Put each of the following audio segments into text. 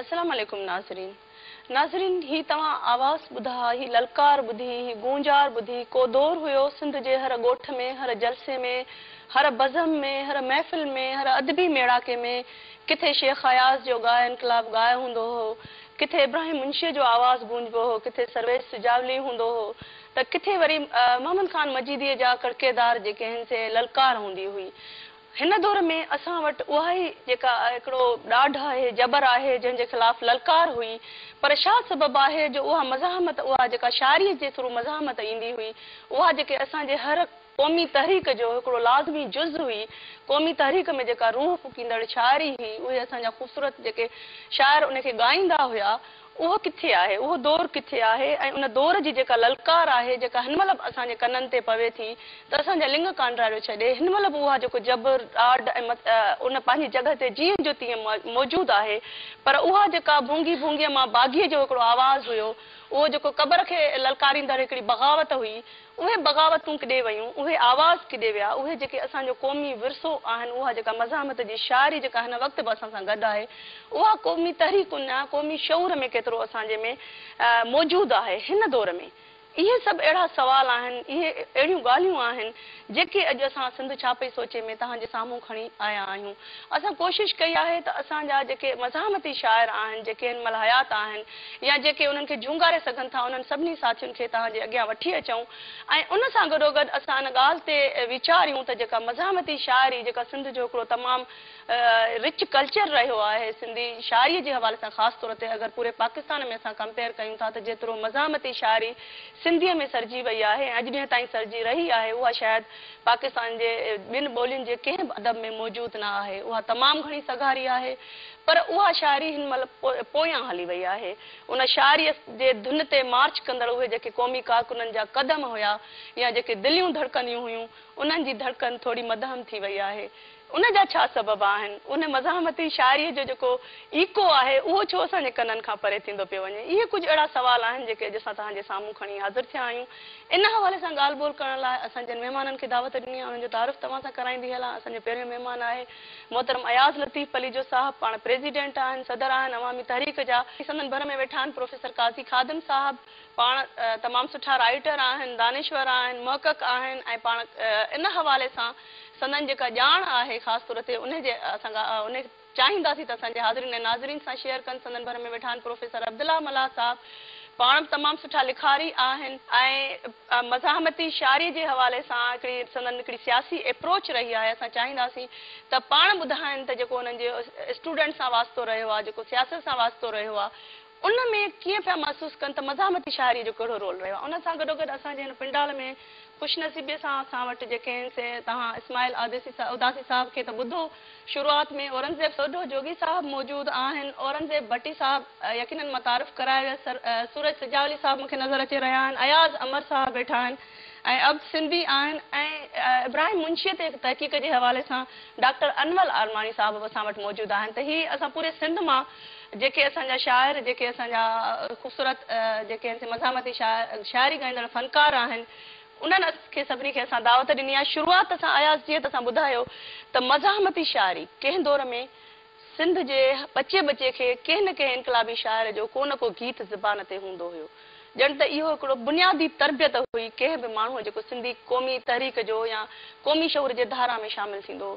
السلام عليڪم ناظرين ناظرين هي توهان آواز ٻڌا هي للڪار ٻڌي هي گونجار ٻڌي ڪو دور هيو سنڌ جي هر ڳوٺ ۾ هر جلسي ۾ هر بزم ۾ هر محفل ۾ هر ادبي ميڙاڪي ۾ ڪٿي شيخ اياز جو ڳاء انقلاب ڳاء هوندو هو ڪٿي ابراهيم منشيء جو آواز گونجبو هو ڪٿي سرويچ سجاولي هوندو هو ته ڪٿي وري محمد خان مجيديء جا ڪڙڪيدار جيڪي هن سي للڪار هوندي هئي هن دور ۾ اسان وٽ اها ئي جيڪا هڪڙو ڏاڍ آهي، جبر آهي، جنهن جي خلاف للڪار هئي، پر شا سبب آهي جو اها مزاحمت اها جيڪا شاعريء جي ٿرو مزاحمت ايندي هئي، اها جيڪي اسان جي هر قومي تحريڪ جو هڪڙو لازمي جز هئي، قومي تحريڪ ۾ جيڪا روح ڦوڪيندڙ شاعري هئي، اهي اسان جا خوبصورت جيڪي شاعر ان کي ڳائيندا هيا، اهو ڪٿي آهي، اهو دور ڪٿي آهي ۽ ان دور جي جيڪا للڪار آهي، جيڪا هن مهل به اسان جي ڪنن تي پوي ٿي ته اسان جا لڱ ڪانڊراڙيو ڇڏي، هن مهل به اها جيڪو جبر، ڏاڍ ۽ مت ان پنهنجي جڳهه تي جيئن جو تيئن موجود آهي، پر اها جيڪا ڀونگي ڀونگيء مان باغيء جو هڪڙو آواز هيو، اهو جيڪو قبر کي للڪاريندڙ هڪڙي بغاوت هئي، اهي بغاوتون ڪڏي ويون، اهي آواز ڪڏي ويا، اهي جيڪي اسان جو قومي ورثو آهن، اها جيڪا مزاحمت جي شاعري جيڪا هن وقت به اسان سان گڏ آهي، اها قومي تحريڪن ۽ قومي شعور ۾ ڪيترو اسان جي ۾ موجود آهي هن دور ۾؟ اهي سڀ اهڙا سوال آهن، اهي اهڙيون ڳالهيون آهن، جيڪي اڄ اسان سنڌ ڇاپي سوچي ۾ توهان جي سامهون کڻي آيا آهيون. اسان ڪوشش ڪئي آهي ته اسان جا جيڪي مزاحمتي شاعر آهن، جيڪي هن مهل حيات آهن يا جيڪي انهن کي جهونگاري سگهن ٿا، انهن سڀني ساٿين کي توهان جي اڳيان وٺي اچون ۽ ان سان گڏوگڏ اسان ان ڳالهه تي ويچاريون ته جيڪا مزاحمتي شاعري جيڪا سنڌ جو هڪڙو تمام رچ ڪلچر رهيو آهي، سنڌي شاعريء جي حوالي سان خاص طور تي اگر پوري پاڪستان ۾ اسان ڪمپيئر ڪيون ٿا ته جيترو مزاحمتي شاعري سنڌيء ۾ سرجي وئي آهي ۽ اڄ ڏينهن تائين سرجي رهي آهي، اها شايد پاڪستان جي ٻين ٻولين جي ڪنهن به ادب ۾ موجود نه آهي. اها تمام گهڻي سگهاري آهي، پر اها شاعري هن مهل پويان هلي وئي آهي. ان شاعريء جي ڌن تي مارچ ڪندڙ اهي جيڪي قومي ڪارڪنن جا قدم هيا يا جيڪي دليون ڌڙڪنديون هيون، انهن جي ڌڙڪن ٿوري مدهم ٿي وئي آهي. ان جا ڇا سبب آهن؟ ان مزاحمتي شاعريء جو جيڪو ايڪو آهي، اهو ڇو اسان جي ڪنن کان پري ٿيندو پيو وڃي؟ اهي ڪجهه اهڙا سوال آهن، جيڪي اڄ اسان توهان جي سامهون کڻي حاضر ٿيا آهيون. ان حوالي سان ڳالهه ٻولهه ڪرڻ لاء اسان جن مهمانن کي دعوت ڏني آهي، انهن جو تعارف توهان سان ڪرائيندي هلان. اسان جو پهريون مهمان آهي محترم اياز لطيف پليجو صاحب. پاڻ پريزيڊنٽ آهن، صدر آهن عوامي تحريڪ جا. سندن ڀر ۾ ويٺا آهن پروفيسر قاضي خادم صاحب. پاڻ تمام سٺا رائيٽر آهن، دانشور آهن، محقق آهن ۽ پاڻ ان حوالي سان سندن جيڪا ڄاڻ آهي خاص طور تي انهي جي اسان انهي چاهينداسين ته اسان جي حاضرين ۽ ناظرين سان شيئر ڪن سندن ڀر ۾ ويٺا آهن پروفيسر عبدالله ملاح صاحب پاڻ به تمام سٺا لکاري آهن ۽ مزاحمتي شاعري جي حوالي سان هڪڙي سندن هڪڙي سياسي ايپروچ رهي آهي اسان چاهينداسين ته پاڻ ٻڌائن ته جيڪو انهن جي اسٽوڊنٽ سان واسطو رهيو آهي جيڪو سياست سان واسطو رهيو آهي ان ۾ ڪيئن پيا محسوس ڪن ته مزاحمتي شاعريء جو ڪهڙو رول رهيو آهي. ان سان گڏوگڏ اسان جي هن پنڊال ۾ خوش نصيبيء سان اسان وٽ جيڪي آهن سي توهان اسماعيل اداسي صاحب کي ته ٻڌو. شروعات ۾ اورنگزيب سوڍو جوڳي صاحب موجود آهن. اورنگزيب ڀٽي صاحب يقينن متعارف ڪرايو ويس. سورج سجاولي صاحب مون کي نظر اچي رهيا آهن. اياز امر صاحب ويٺا آهن ۽ عبد سنڌي آهن ۽ ابراهيم منشيء تي تحقيق جي حوالي سان ڊاڪٽر انول آرماڻي صاحب به اسان وٽ موجود آهن ته هي اسان پوري سنڌ مان جيڪي اسان جا شاعر، جيڪي اسان جا خوبصورت جيڪي اسين مزاحمتي شاعري ڳائيندڙ فنڪار آهن، انهن کي سڀني کي اسان دعوت ڏني آهي. شروعات سان اياز جيئن ته اسان ٻڌايو ته مزاحمتي شاعري ڪنهن دور ۾ سنڌ جي ٻچي ٻچي کي ڪنهن نه ڪنهن انقلابي شاعر جو ڪو نه ڪو گيت زبان تي هوندو هيو. ڄڻ ته اهو هڪڙو بنيادي تربيت هئي ڪنهن به ماڻهوء جيڪو سنڌي قومي تحريڪ جو يا قومي شعور جي ڌارا ۾ شامل ٿيندو هو.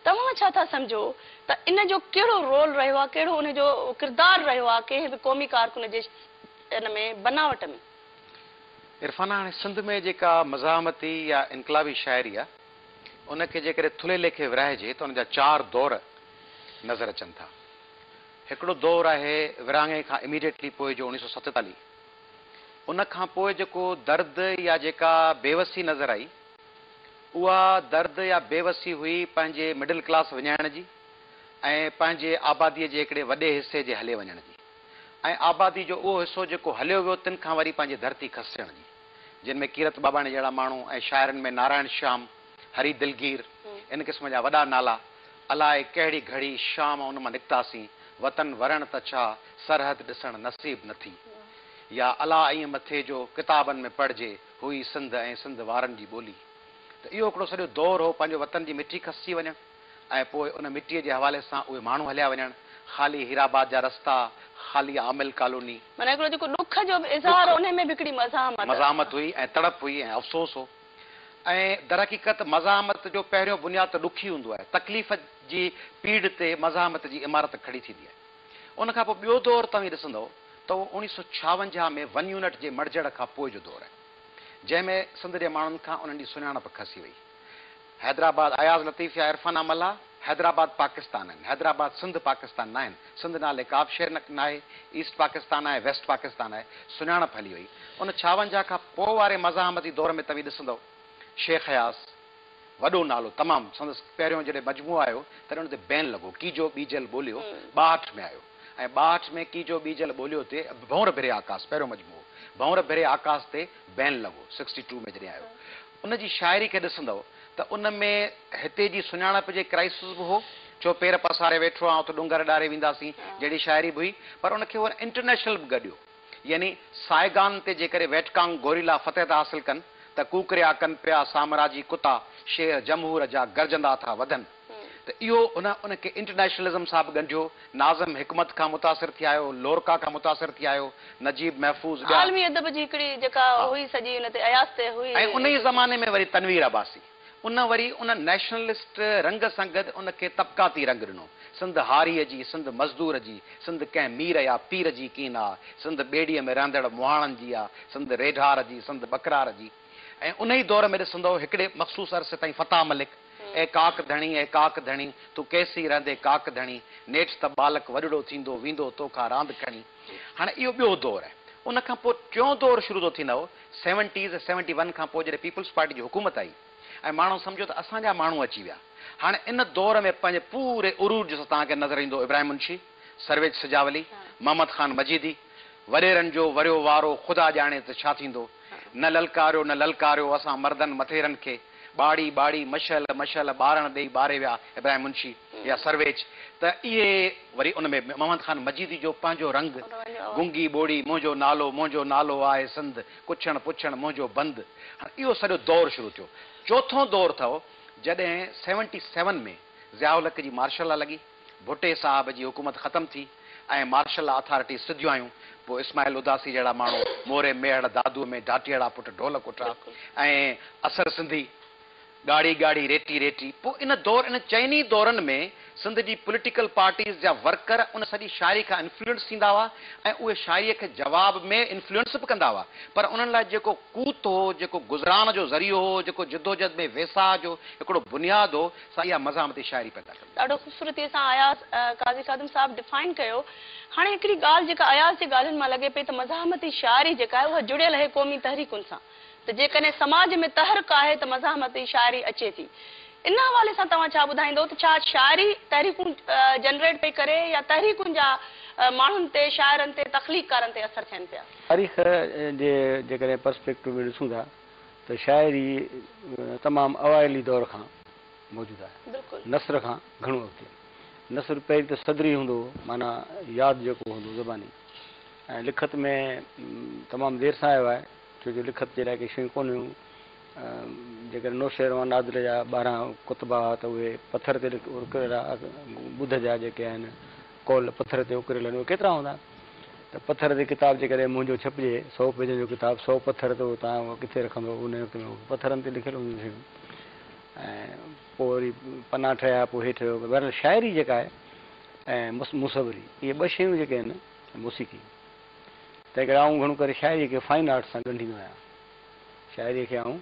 توهان ڇا ٿا سمجهو ته ان جو ڪهڙو رول رهيو آهي، ڪهڙو ان جو ڪردار رهيو آهي ڪنهن به قومي ڪارڪن جي ان ۾ بناوٽ ۾؟ عرفانه هاڻي سنڌ ۾ جيڪا مزاحمتي يا انقلابي شاعري آهي ان کي جيڪڏهن ٿلهي ليکي ورهائجي ته ان جا چار دور نظر اچن ٿا. هڪڙو دور آهي ورهاڱي کان اميڊيٽلي پوء جو اڻيهه سؤ ستيتاليهه. ان کان پوء جيڪو درد يا جيڪا بيوسي نظر آئي، اها درد يا بيوسي هئي پنهنجي مڊل ڪلاس وڃائڻ جي ۽ پنهنجي آباديء جي هڪڙي وڏي حصي جي هلي وڃڻ جي ۽ آبادي جو اهو حصو جيڪو هليو ويو تن کان وري پنهنجي ڌرتي کسجڻ جي جن ۾ ڪيرت ٻاٻاڻي جهڙا ماڻهو ۽ شاعرن ۾ نارائڻ شيام، هري دلگير ان قسم جا وڏا نالا الاء ڪهڙي گهڙي شام ان مان نڪتاسين وطن ورڻ ته ڇا سرحد ڏسڻ نصيب نه ٿي يا الاء ائين مٿي جو ڪتابن ۾ پڙهجي هئي سنڌ ۽ سنڌ وارن جي ٻولي ته اهو هڪڙو سڄو دور هو پنهنجو وطن جي مٺي کسجي وڃڻ ۽ پوء ان مٽيء جي حوالي سان اهي ماڻهو هليا وڃڻ خالي هيرآباد جا رستا خالي عامل ڪالوني. معنيٰ هڪڙو جيڪو ڏک جو به اظهار هو انهي ۾ به هڪڙي مزاحمت. مزاحمت هئي ۽ تڙپ هئي ۽ افسوس هو ۽ درحقيقت مزاحمت جو پهريون بنياد ته ڏک ئي هوندو آهي تڪليف جي پيڙهه تي مزاحمت جي عمارت کڙي ٿيندي آهي. ان کان پوء ٻيو دور توهين ڏسندؤ ته اهو اوڻيهه سؤ ڇاونجاهه ۾ ون يونٽ جي مڙجڻ کان پوء جو دور آهي، جنهن ۾ سنڌ جي ماڻهن کان انهن جي سڃاڻپ کسي وئي. حيدرآباد اياز لطيف يا عرفانه ملاح، حيدرآباد پاڪستان آهن، حيدرآباد سنڌ پاڪستان ناهن، سنڌ نالي ڪابه شيء ناهي، ايسٽ پاڪستان آهي، ويسٽ پاڪستان آهي، سڃاڻپ هلي وئي. ان ڇاونجاهه کان پوء واري مزاحمتي دور ۾ توهين ڏسندؤ شيخ اياز، وڏو نالو تمام سندس پهريون جڏهن مجموعو آيو تڏهن ان تي بين لڳو ڪيجو ٻيجل ٻوليو ٻاهٺ ۾ آيو ۽ ٻاهٺ ۾ ڪيجو ٻيجل ٻوليو تي ڀنور ڀري آڪاس پهريون مجموعو ڀنور ڀري آڪاس تي بين لڳو سڪسٽي ٽو ۾ جڏهن آيو ان جي شاعري کي ڏسندؤ ته ان ۾ هتي جي سڃاڻپ جي ڪرائسز به هو ڇو پير پساري ويٺو آن اٿ ڏونگر ڏاري وينداسين جهڙي شاعري به هئي پر ان کي هو انٽرنيشنل به گڏيو. يعني سائيگان تي جيڪڏهن ويٽڪانگ گوريلا فتح ٿا حاصل ڪن ته ڪوڪريا، ڪنپيا، سامراجي ڪتا، شير، جمهور جا گرجندا ٿا وڌن ته اهو هن ان کي انٽرنيشنلزم سان به ڳنڍيو، ناظم حڪمت کان متاثر ٿي آيو، لورڪا کان متاثر ٿي آيو، نجيب محفوظ ٻيا. عالمي ادب جي هڪڙي جيڪا هئي سڄي ان تي اياز تي هئي. ۽ انهيء زماني ۾ وري تنوير عباسي. ان وري ان نيشنلسٽ رنگ سان گڏ ان کي طبقاتي رنگ ڏنو. سنڌ هاريء جي، سنڌ مزدور جي، سنڌ ڪنهن مير يا پير جي ڪين آ، سنڌ ٻيڙيء ۾ رهندڙ مهاڻن جي آ، سنڌ ريڍار جي، سنڌ ٻڪرار جي. ۽ انهي دور ۾ ڏسندؤ هڪڙي مخصوص عرصي تائين فتاح ملڪ، اي ڪاڪ ڌڻي، اي ڪاڪ ڌڻي، تون ڪيسين رهندين ڪاڪ ڌڻي، نيٺ ته ٻالڪ وڏڙو ٿيندو، ويندو تو کان راند کڻي. هاڻي اهو ٻيو دور آهي. ان کان پوء ٽيون دور شروع ٿو ٿئي نئو سيونٽيز ۽ سيونٽي ون کان پوء جڏهن پيپلز پارٽي جي حڪومت آئي ۽ ماڻهو سمجهيو ته اسان جا ماڻهو اچي ويا. هاڻي ان دور ۾ پنهنجي پوري عروج سان توهان کي نظر ايندو ابراهيم منشي، سرويچ سجاولي، محمد خان مجيدي، وڏيرن جو وريو وارو خدا ڄاڻي ته ڇا ٿيندو. نه للڪاريو نه للڪاريو اسان مردن مٿيرن کي. ٻاڙي ٻاڙي، مشعل مشعل، ٻارڻ ڏيئي ٻاري ويا، ابراهيم منشي يا سرويچ ته اهي وري ان ۾ محمد خان مجيدي جو پنهنجو رنگ، گونگي ٻوڙي، منهنجو نالو منهنجو نالو آهي سنڌ، ڪڇڻ پڇڻ منهنجو بند، هاڻ اهو سڄو دور شروع ٿيو. چوٿون دور اٿو جڏهن سيونٽي سيون ۾ ضياء الحق جي مارشل لا لڳي. ڀٽي صاحب جي حڪومت ختم ٿي ۽ مارشل لا اٿارٽيز سڌيون آيون، پوء اسماعيل اداسي جهڙا ماڻهو موري ميهڙ دادوء ۾ ڍاٽيئڙا پٽ ڍول ڪٽرا ۽ اثر سنڌي، ڳاڙهي ڳاڙهي ريٽي ريٽي، پوء ان دور ان چئني دورن ۾ سنڌ جي پوليٽيڪل پارٽيز جا ورڪر ان سڄي شاعري کان انفلوئنس ٿيندا هئا ۽ اهي شاعريء کي جواب ۾ انفلوئنس به ڪندا هئا پر انهن لاء جيڪو قوت هو، جيڪو گذران جو ذريعو هو، جيڪو جدوجهد ۾ ويساهه جو هڪڙو بنياد هو، سا اها مزاحمتي شاعري پيدا ڪندي هئي. ڏاڍو خوبصورتيء سان اياز قاضي خادم صاحب ڊفائن ڪيو. هاڻي هڪڙي ڳالهه جيڪا اياز جي ڳالهين مان لڳي پئي ته مزاحمتي شاعري جيڪا آهي اها جڙيل اهي قومي تحريڪن سان ته جيڪڏهن سماج ۾ تحرڪ آهي ته مزاحمتي شاعري اچي ٿي. ان حوالي سان توهان ڇا ٻڌائيندو ته ڇا شاعري تحريڪون جنريٽ پئي ڪري يا تحريڪن جا ماڻهن تي، شاعرن تي، تخليقڪارن تي اثر ٿين پيا؟ تاريخ جي جيڪڏهن پرسپيڪٽو ۾ ڏسون ٿا ته شاعري تمام اوائلي دور کان. موجود آهي. نثر کان گهڻو اڳتي. نثر پهرين ته صدري هوندو هو، معنيٰ ياد جيڪو هوندو زباني ۽ لکت ۾ تمام دير سان آيو آهي، ڇو جو لکت جي لاء ڪي شيون ڪونه هيون. جيڪڏهن نوشيروان نادر جا ٻارهن ڪتبا هئا ته اهي پٿر تي اڪريل ها. ٻڌ جا جيڪي آهن قول پٿر تي اڪريل آهن اهي ڪيترا هوندا ته پٿر تي ڪتاب جيڪڏهن منهنجو ڇپجي سؤ پيجن جو ڪتاب سؤ پٿر ته تان هو ڪٿي رکندو انهي وقت ۾ پٿرن تي لکيل هونديون شيون. ۽ پوء وري پناهه ٺهيا پوء هيٺ رهيو بهرحال شاعري جيڪا آهي ۽ مصوري اهي ٻه شيون جيڪي آهن ۽ موسيقي تنهن ڪري آئون گهڻو ڪري شاعري کي فائن آرٽس سان ڳنڍيندو آهيان شاعري کي آئون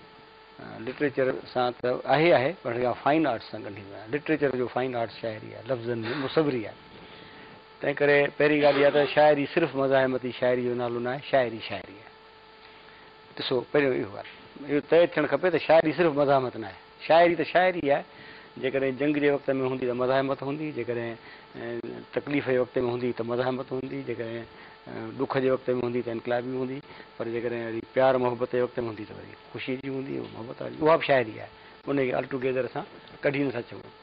لٽريچر سان ته آهي آهي پر هن کي فائن آرٽس سان ڳنڍيندو آهيان لٽريچر جو فائن آرٽس شاعري آهي لفظن جي مصوري آهي تنهن ڪري پهرين ڳالهه اها ته شاعري صرف مزاحمتي شاعري جو نالو ناهي شاعري شاعري آهي. ڏسو، پهريون اهو آهي. اهو طئي ٿيڻ کپي ته شاعري صرف مزاحمت نه آهي. شاعري ته شاعري آهي. جيڪڏهن جنگ جي وقت ۾ هوندي ته مزاحمت هوندي، جيڪڏهن تڪليف جي وقت ۾ هوندي ته مزاحمت هوندي، جيڪڏهن ڏک جي وقت ۾ هوندي ته انقلابي هوندي، پر جيڪڏهن وري پيار محبت جي وقت ۾ هوندي ته وري خوشيء جي هوندي، محبت واري. اها به شاعري آهي. انهيء کي Altogether اسان ڪڍي نٿا سگهون.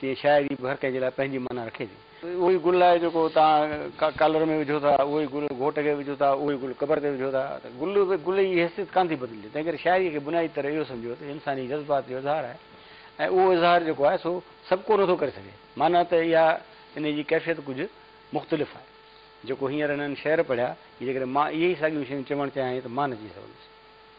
تيئن شاعري به هر ڪنهن جي لاء پنهنجي معنيٰ رکي ٿي. اهو ئي گل آهي جيڪو توهان ڪالر ۾ وجهو ٿا، اهو ئي گل گهوٽ کي وجهو ٿا، اهو ئي گل قبر تي وجهو ٿا ته گل گل جي حيثيت ڪانه ٿي بدلجي. تنهن ڪري شاعريء کي بنيادي طرح اهو سمجهو ته انساني جذبات جو اظهار آهي ۽ اهو اظهار جيڪو آهي سو سڀ ڪو نه ٿو ڪري سگهي. معنيٰ ته اها ان جي ڪيفيت ڪجهه مختلف آهي. جيڪو هينئر هنن شعر پڙهيا، جيڪڏهن مان اهي ئي ساڳيون شيون چوڻ چاهيان ته مان نه چئي سگهندس.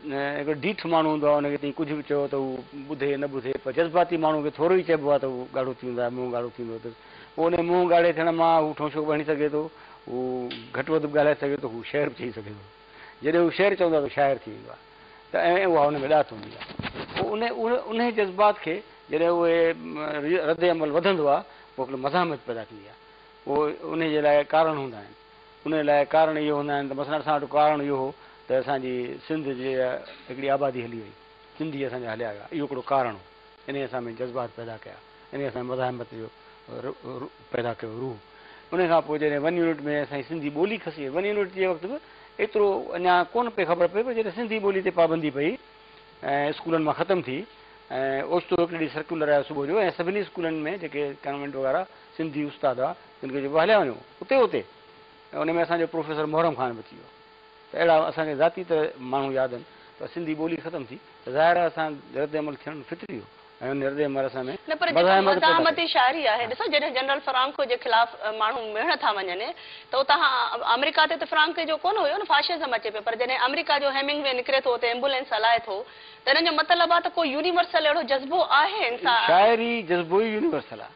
هڪڙو ڊيٺ ماڻهو هوندو آهي ان کي تئين ڪجهه به چئو ته هو ٻڌي نه ٻڌي پر جذباتي ماڻهو کي ٿورو ئي چئبو آهي ته هو ڳاڙهو ٿي ويندو آهي منهن ڳاڙهو ٿي ويندو اٿس پوء ان جي منهن ڳاڙهي ٿيڻ مان هو ٺونشو به هڻي سگهي ٿو هو گهٽ وڌ به ڳالهائي سگهي ٿو هو شعر به چئي سگهي ٿو جڏهن هو شعر چوندو آهي ته شاعر ٿي ويندو آهي ته ائين اها ان ۾ ڏات هوندي آهي پوء ان انهي جذبات کي جڏهن اهي رد عمل وڌندو آهي پوء هڪڙي مزاحمت پيدا ٿيندي آهي پوء انهي جي لاء ڪارڻ هوندا آهن. انهيء لاء ڪارڻ اهي هوندا آهن ته مثلاً اسان وٽ ڪارڻ اهو هو ته اسان جي سنڌ جي هڪڙي آبادي هلي وئي، سنڌي اسان جا هليا ويا، اهو هڪڙو ڪارڻ هو. انهيء اسان ۾ جذبات پيدا ڪيا، انهيء اسان ۾ مزاحمت جو پيدا ڪيو روح. انهيء کان پوء جڏهن ون يونٽ ۾ اسان جي سنڌي ٻولي کسي وئي، ون يونٽ جي وقت به ايترو اڃا ڪونه پئي خبر پئي پر جڏهن سنڌي ٻولي تي پابندي پئي ۽ اسڪولن مان ختم ٿي ۽ اوچتو هڪڙي ڏينهن سرڪيولر آيو صبح جو ۽ سڀني اسڪولن ۾ جيڪي ڪانوينٽ وغيره سنڌي استاد هئا جن کي چئبو هليا وڃو اتي اتي ۽ ان ۾ اسان جو پروفيسر محرم خان به اچي ويو ته اهڙا اسان کي ذاتي طرح ماڻهو ياد آهن پر سنڌي ٻولي ختم ٿي ته ظاهر آهي اسان رد عمل ٿيڻ فطري هو ۽ ان رد عمل اسان ۾ نه پر جيڪا مزاحمتي شاعري آهي ڏسو جڏهن جنرل فرانڪو جي خلاف ماڻهو مهڻ ٿا وڃن ته اتان آمريڪا تي ته فرانڪي جو ڪونه هيو نه فاشزم اچي پيو پر جڏهن آمريڪا جو هيمنگ وي نڪري ٿو اتي ايمبولينس هلائي ٿو ته ان جو مطلب آهي ته ڪو يونيورسل اهڙو جذبو آهي انسان شاعري جذبو ئي يونيورسل آهي.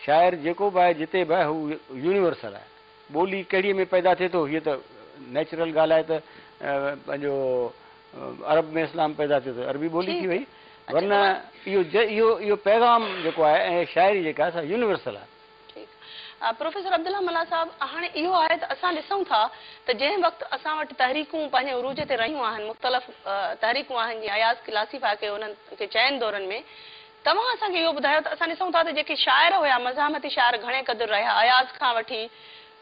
شاعر جيڪو به آهي، جتي به آهي، هو يونيورسل آهي. ٻولي ڪهڙيء ۾ پيدا ٿئي ٿو، هيء ته نيچرل ڳالهه آهي ته پنهنجو عرب ۾ اسلام پيدا ٿيو ته عربي ٻولي ٿي وئي، ورنه اهو اهو پيغام جيڪو آهي ۽ شاعري جيڪا آهي سا يونيورسل آهي. ٺيڪ. پروفيسر عبدالله ملاح صاحب، هاڻي اهو آهي ته اسان ڏسون ٿا ته جنهن وقت اسان وٽ تحريڪون پنهنجي عروج تي رهيون آهن، مختلف تحريڪون آهن، جيئن اياز ڪلاسيفائي ڪيو انهن کي چئن دورن ۾، توهان اسان کي اهو ٻڌايو ته اسان ڏسون ٿا ته جيڪي شاعر هيا، مزاحمتي شاعر گهڻي قدر رهيا، اياز کان وٺي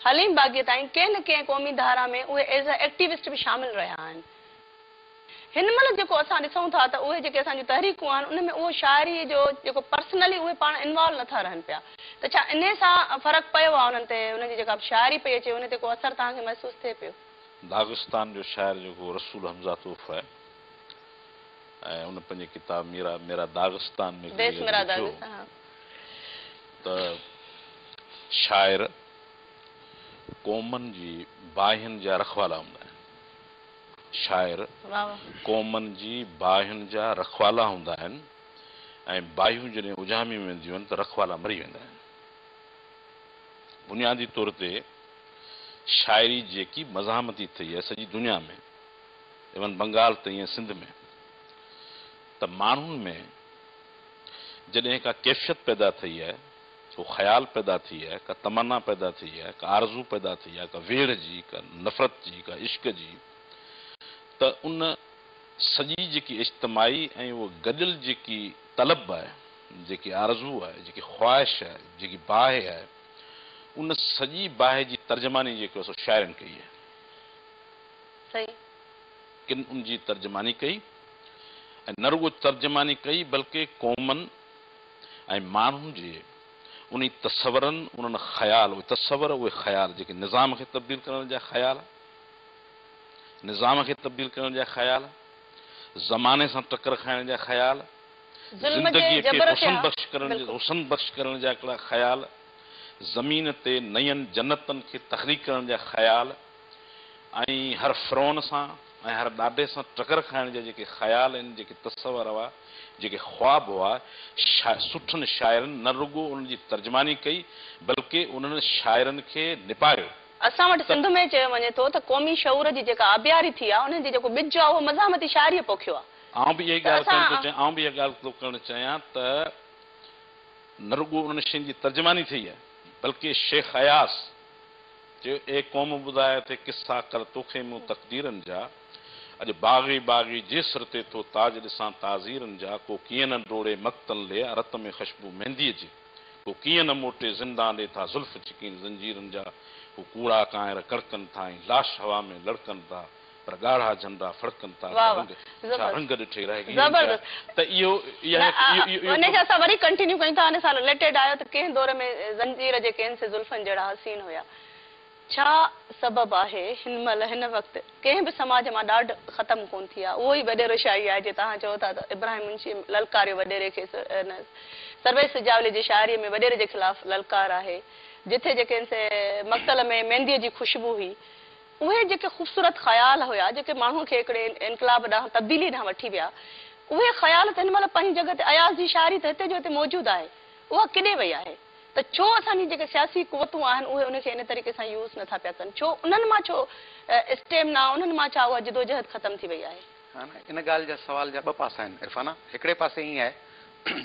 حليم باغيء تائين ڪنهن نه ڪنهن قومي ڌارا ۾ اهي ايز اي ايڪٽيوسٽ به شامل رهيا آهن. هن مهل جيڪو اسان ڏسون ٿا ته اهي جيڪي اسان جون تحريڪون آهن ان ۾ اهو شاعريء جو جيڪو پرسنلي اهي پاڻ انوالو نه ٿا رهن پيا ته ڇا انهيء سان فرق پيو آهي انهن تي انهن جي جيڪا به شاعري پئي اچي ان تي ڪو اثر توهان کي محسوس ٿئي پيو؟ داغستان جو شاعر جيڪو رسول حمزه توف آهي. ۽ ان پنهنجي ڪتاب ميرا ميرا داغستان ۾ به اهو لکيو ته شاعر قومن جي باهين جا رکوالا هوندا آهن. شاعر قومن جي باهين جا رکوالا هوندا آهن ۽ باهيون جڏهن اجهاميون وينديون آهن ته رکوالا مري ويندا آهن. بنيادي طور تي شاعري جيڪي مزاحمتي ٿئي آهي سڄي دنيا ۾، ايون بنگال ته ايئن سنڌ ۾ ته ماڻهن ۾ جڏهن ڪا ڪيفيت پيدا ٿئي آهي، ڪو خيال پيدا ٿئي آهي، ڪا تمنا پيدا ٿئي آهي، ڪا آرزو پيدا ٿئي آهي، ڪا ويڙهه جي، ڪا نفرت جي، ڪا عشق جي ته ان سڄي جيڪي اجتماعي ۽ اهو گڏيل جيڪي طلب آهي، جيڪي آرزو آهي، جيڪي خواهش آهي، جيڪي باهه آهي ان سڄي باهه جي ترجماني جيڪو سو شاعرن ڪئي آهي. ٿئي. ڪن ان جي ترجماني ڪئي ۽ نه رڳو ترجماني ڪئي بلڪه قومن ۽ ماڻهن جي انهي تصورن، انهن خيال، اهي تصور، اهي خيال جيڪي نظام کي تبديل ڪرڻ جا خيال، نظام کي تبديل ڪرڻ جا خيال، زماني سان ٽڪر کائڻ جا خيال، ظلم جي زندگيء کي جبر کي حسن ها بخش ڪرڻ بلڪل. حسن بخش ڪرڻ جا هڪڙا خيال، زمين تي نين جنتن کي تخليق ڪرڻ جا خيال، ۽ هر فرعون سان ۽ هر ڏاڍي سان ٽڪر کائڻ جا جيڪي خيال ۽ جيڪي تصور هئا، جيڪي خواب هئا، شا سٺن شاعرن نه رڳو انهن جي ترجماني ڪئي، بلڪه انهن شاعرن کي نپايو. اسان وٽ ته. سنڌ ۾ چيو وڃي ٿو ته قومي شعور جي جيڪا آبياري ٿي آ، انهن جي جيڪو ٻج آ، اهو مزاحمتي شاعريء پوکيو آ. آئون به اها ئي ته ڳالهه ڪرڻ ٿو اسان. چاهيان، آئون به اها ڳالهه ٿو ڪرڻ چاهيان ته نه رڳو انهن شين جي ترجماني ٿئي آ، بلڪه شيخ اياز. چيو، اي قوم ٻڌاء تي قصا ڪر توکي مون تقديرن جا اڄ باغي باغي جي سر تي ٿو تاج ڏسان تعزيرن جا ڪو ڪيئن نه ڊوڙي مقتل ڏي رت ۾ خشبو مينديء جي ڪو ڪيئن نه موٽي زندان ڏي ٿا زلف ڇڪين زنجيرن جا هو ڪوڙا ڪانئر ڪڙڪن ٿا ۽ لاش هوا ۾ لڙڪن ٿا پر ڳاڙها جنڊا ڦڙڪن ٿا، ڇا رنگ ڇا رنگ ڏٺي رهي گيون ٿيا ته اهو اها هڪ اهو اهو اهو ان کي اسان وري ڪنٽينيو ڪيون ٿا ان سان رليٽيڊ آهيو ته ڪنهن دور ۾ زنجير جي ڪين سي زلفن جهڙا حسين هيا ڇا سبب آهي هن مهل هن وقت ڪنهن به سماج مان ڏاڍ ختم ڪون ٿي آهي اهو ئي وڏيرو شاعري آهي جي توهان چئو ٿا ته ابراهيم منشي للڪاريو وڏيري کي ان سرويچ سجاولي جي شاعري ۾ وڏيري جي خلاف للڪار آهي جتي جي ڪين سي مقتل ۾ مينديء جي خوشبو هئي اهي جيڪي خوبصورت خيال هيا جيڪي ماڻهوء کي هڪڙي انقلاب ڏانهن، تبديليء ڏانهن وٺي ويا، اهي خيال ته هن مهل پنهنجي جڳهه تي اياز جي شاعري ته هتي جو هتي موجود آهي، اها ڪيڏي وئي آهي؟ ته ڇو اسان جي جيڪي سياسي قوتون آهن اهي ان کي ان طريقي سان يوز نه ٿا پيا ڪن؟ ڇو انهن مان ڇو اسٽيمنا، انهن مان ڇا اها جدوجهد ختم ٿي وئي آهي؟ ها نه، ان ڳالهه جا سوال جا ٻه پاسا آهن عرفانه، هڪڙي پاسي ائين آهي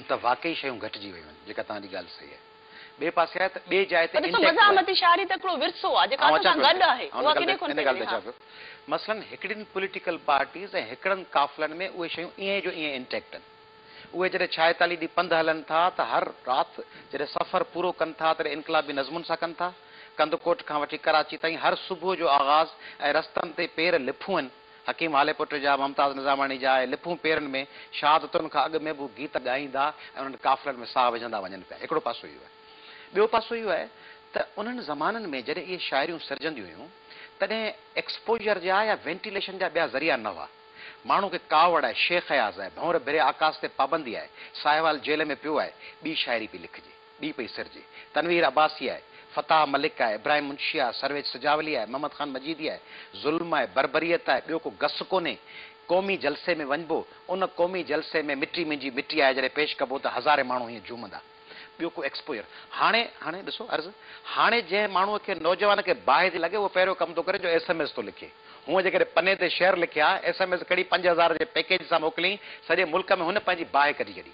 ته واقعي شيون گهٽجي ويون آهن، جيڪا توهان جي ڳالهه صحيح آهي. ٻئي پاسي آهي ته ٻئي جاء تي انٽيڪٽ آهي. ڏسو مزاحمتي شاعري ته هڪڙو ورثو آهي جيڪا اسان سان گڏ آهي اها ڪيڏي کن پئي ڪري ها. مثلاً هڪڙين پوليٽيڪل پارٽيز ۽ هڪڙن قافلن ۾ اهي شيون ائين جو ائين انٽيڪٽ آهن. اهي جڏهن ڇائيتاليهه ڏينهن پنڌ هلن ٿا ته هر رات جڏهن سفر پورو ڪن ٿا تڏهن انقلابي نظمن سان ڪن ٿا. ڪنڌڪوٽ کان وٺي ڪراچي تائين هر صبح جو آغاز ۽ رستن تي پير لڦون هن. حڪيم هاليپوٽ جا، ممتاز نظاماڻي جا ۽ لپون پيرن ۾ شهادتن کان اڳ ۾ به هو گيت ڳائيندا ۽ انهن قافلن ۾ ساهه وجهندا وڃن پيا. هڪڙو پاسو اهو آهي. ٻيو پاسو اهو آهي ته انهن زمانن ۾ جڏهن اهي شاعريون سرجنديون هيون، تڏهن ايڪسپوزر جا يا وينٽيليشن جا ٻيا ذريعا نه هئا. ماڻهو کي ڪاوڙ آهي، شيخ اياز آهي، ڀنور ڀري آڪاس تي پابندي آهي، ساهيوال جيل ۾ پيو آهي، ٻي شاعري پئي لکجي. ڏي پئي سرجي. تنوير عباسي آهي، فتاح ملڪ آهي، ابراهيم منشي آهي، سرويچ سجاولي آهي، محمد خان مجيدي آهي، ظلم آهي، بربريت آهي، ٻيو ڪو گس ڪونهي. قومي جلسي ۾ وڃبو، ان قومي جلسي ۾ مٽي منهنجي مٽي آهي جڏهن پيش ڪبو ته هزارين ماڻهو هيئن جهومندا. ٻيو ڪو ايڪسپوجر. هاڻي، هاڻي ڏسو عرض، هاڻي جنهن ماڻهوء کي نوجوان کي باهه ٿي لڳي اهو پهريون ڪم ٿو ڪري جو ايس ايم ايس ٿو لکي. هونء جيڪڏهن پني تي شعر لکي ها، ايس ايم ايس ڪڙي پنج هزار جي پيڪيج سان موڪليئين، سڄي ملڪ ۾ هن پنهنجي باهه ڪڍي ڇڏي.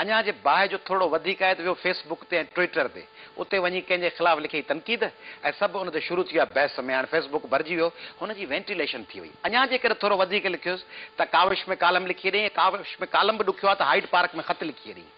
اڃا جي باهه جو ٿورڙو وڌيڪ آهي ته ويو فيس بڪ تي ۽ ٽوئيٽر تي. اتي وڃي ڪنهن جي خلاف لکي تنقيد ۽ سڀ ان تي شروع ٿي ويا بحث ۾. هاڻ فيس بڪ ڀرجي ويو. هن جي وينٽيليشن ٿي وئي. اڃا جيڪڏهن ٿورو وڌيڪ لکيس ته ڪاوش ۾ ڪالم لکي ڏئين ۽ ڪاوش ۾ ڪالم به ڏکيو آهي ته هائيڊ پارڪ ۾ خط لکي ڏئين.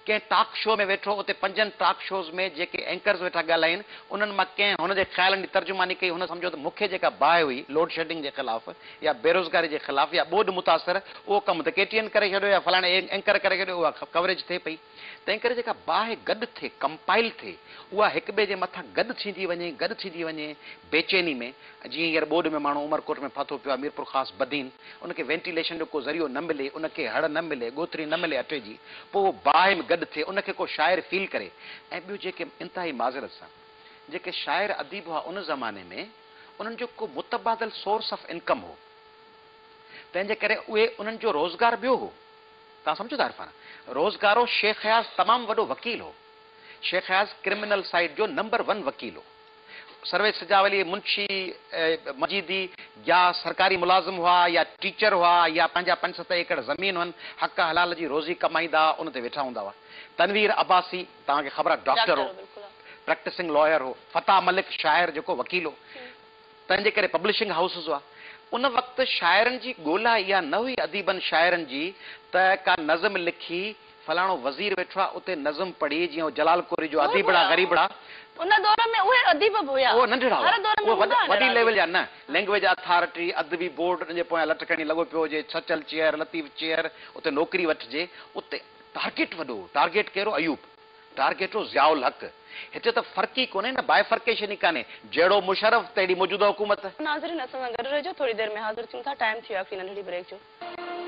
ڪنهن ٽاڪ شو ۾ ويٺو. اتي پنجن ٽاڪ شوز ۾ جيڪي اينڪرز ويٺا ڳالهائين انهن مان ڪنهن هن جي خيالن جي ترجماني ڪئي. هن سمجهيو ته مون کي جيڪا باهه هئي لوڊشيڊنگ جي خلاف، يا بيروزگاري جي خلاف يا ٻوڏ متاثر اهو ڪم ته ڪي ٽي اين ڪري ڇڏيو يا فلاڻي اينڪر ڪري ڇڏيو اها ڪوريج ٿئي پئي تنهن ڪري جيڪا باهه گڏ ٿئي ڪمپائل ٿئي اها هڪ ٻئي جي مٿان گڏ ٿيندي وڃي گڏ ٿيندي وڃي بيچيني ۾ جيئن هينئر ٻوڏ ۾ ماڻهو عمرڪوٽ ۾ ڦاٿو پيو آهي ميرپورخاص بدين ان کي وينٽيليشن جو ڪو ذريعو نه ملي ان کي هڙ نه ملي ڳوٿري نه ملي اٽي جي پوء اهو باهه ۾ گڏ ٿئي ان کي ڪو شاعر فيل ڪري ۽ ٻيو جيڪي انتهائي معذرت سان جيڪي شاعر اديب هئا ان زماني ۾ انهن جو ڪو متبادل سورس آف انڪم هو، تنهن جي ڪري اهي انهن جو روزگار ٻيو هو. توهان سمجهو ٿا عرفان؟ روزگارو شيخ اياز تمام وڏو وڪيل هو. شيخ اياز ڪرمنل سائيڊ جو نمبر ون وڪيل هو. سرويچ سجاء ولي منشي، مجيدي، جا سرڪاري ملازم هئا يا ٽيچر هئا يا پنهنجا پنج ست ايڪڙ زمين هئن، حق حلال جي روزي ڪمائيندا ان تي ويٺا هوندا هئا. تنوير عباسي، توهان کي خبر آهي ڊاڪٽر هو، پريڪٽسنگ لائر هو، فتاح ملڪ شاعر جيڪو وڪيل هو، تنهن جي ڪري پبلشنگ هائوسز هئا. ان وقت شاعرن جي ڳولا اها نه هئي اديبن شاعرن جي ته ڪا نظم لکي فلاڻو وزير ويٺو آهي اتي نظم پڙهي جيئن هو جلال ڪوري جو اديبڙا غريبڙا. ان دور ۾ اهي اديب به هيا. اهي ننڍڙا هئا. اهي وڏي ليول جا نه. لينگويج اٿارٽي، ادبي بورڊ ان جي پويان لٽ کڻي لڳو پيو هجي، سچل چيئر، لطيف چيئر، اتي نوڪري وٺجي. اتي. ٽارگيٽ وڏو، ٽارگيٽ ڪهڙو ايوب، ٽارگيٽ هو ضياء الحق، هتي ته فرق ئي ڪونهي نه Bifurcation ئي ڪانهي، جهڙو مشرف تهڙي موجوده حڪومت. ناظرين اسان سان گڏ رهجو ٿوري دير ۾ حاضر ٿيون ٿا ٽائيم ٿي ويو آخري ننڍڙي بريڪ جو.